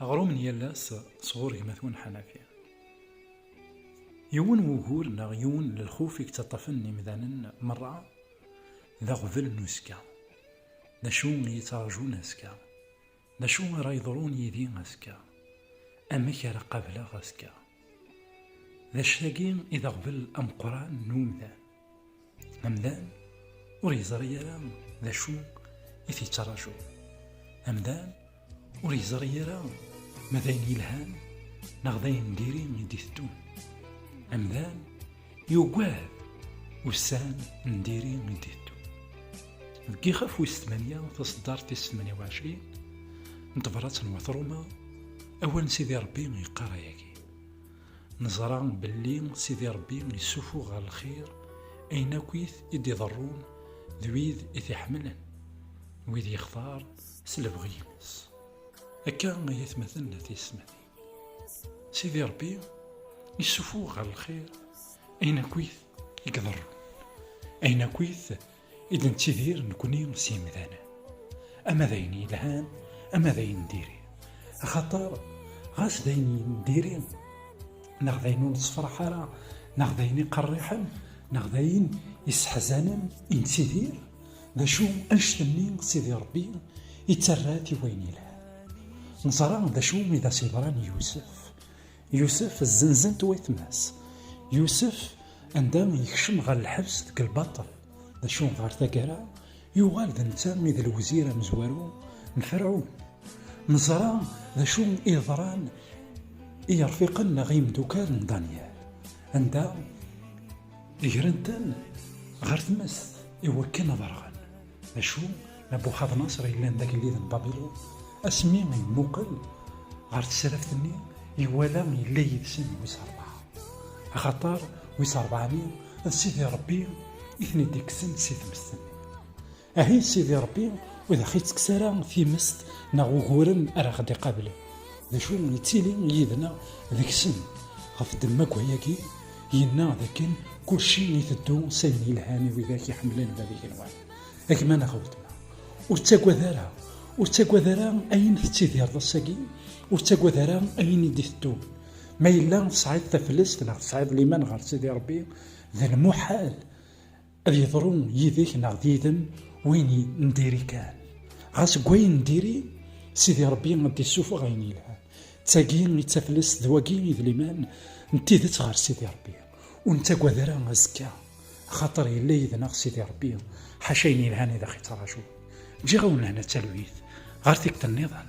Aɣrum n yal ass sɣur gma-twen Ḥanafi. Yiwen n wugur neɣ yiwen n lxuf i yettaṭṭafen imdanen merra d aɣbel n uzekka. D acu i yi-ttraǧun azekka? D acu ara yeḍrun yid-i azekka? Amek ara qableɣ azekka? D acu-agi i d aɣbel ameqqran n umdan. Amdan ur yeẓri ara d acu i t-yettṛaju. Amdan ur yeẓri ara ma d ayen yelhan neɣ d ayen diri i d-iteddun. Amdan yugad ussan n diri i d-iteddun. Deg ixaf wis tmanya taṣeddart tis tmanya u ɛecrin n tebrat n Wat Ruma, awal n Sidi Ṛebbi yeqqar ayagi. Neẓra belli Sidi Ṛebbi yessuffuɣ ɣer lxir ayen akkit i d-iḍerrun d wid i t-iḥemmlen, wid yextar s lebɣi-ines. Akka ay atmaten n tiyesmatin. Sidi Ṛebbi yessuffuɣ ɣer lxir ayen akkit i iḍerrun, ayen akkit i d nettidir nekni s yimdanen ama d ayen yelhan ama d ayen diri axaṭer ɣas d ayen diri neɣ d ayen ur nettefraḥ ara neɣ d ayen iqerriḥen neɣ d ayen isseḥzanen i nettidir d acu anect-nni sidi rebbi ittarra-t i wayen yelhan neẓra d acu i d as-yeḍran i yusef Yusef zzenzen-t wayetma-s. Yusef anda yekcem ɣer lḥebs deg lbaṭel. D acu ɣer taggara yuɣal d netta i d lewzir amezwaru n Ferɛun. Neẓra d acu i yeḍran i yerfiqen neɣ imeddukal n Danyal, anda gren-ten ɣer tmest i wakken ad rɣen. D acu, Nabuxadnaṣer yellan d agellid n Babilun, asmi yemmuqel ɣer tesraft-nni, iwala yella yid-sen wis rebɛa. Axaṭer wis rebɛa-nni d Sidi Ṛebbi i ten-id-ikksen si tmest-nni. Ahi Sidi Ṛebbi ur aɣ-ittekkes ara timest neɣ uguren ara aɣ-d-iqablen. D acu, ittili yid-neɣ deg-sen ɣef ddemma n wayagi, Yenna dakken kulci iteddu s ayen yelhan i widak iḥemmlen bab igenwan. A gma neɣ a weltma, ur ttagad ara, ur ttagad ara ayen tettidireḍ ass-agi, ur ttagad ara ayen i d-iteddun. Ma yella tesɛiḍ taflest neɣ tesɛiḍ liman ɣer Sidi Ṛebbi, d lmuḥal Ad yeḍru yid-k neɣ d yid-m win n diri kan. Ɣas deg wayen n diri, Sidi Ṛebbi ad d-issufeɣ ayen yelhan. D tagi i d taflest, d wagi i d liman n tidet ɣer Sidi Ṛebbi. Ur nettagad ara azekka, axaṭer yella yid-neɣ Sidi Ṛebbi, ḥaca ayen yelhan i d aɣ-ittrajun. Ǧǧiɣ-awen lehna d talwit, ɣer tikkelt nniḍen.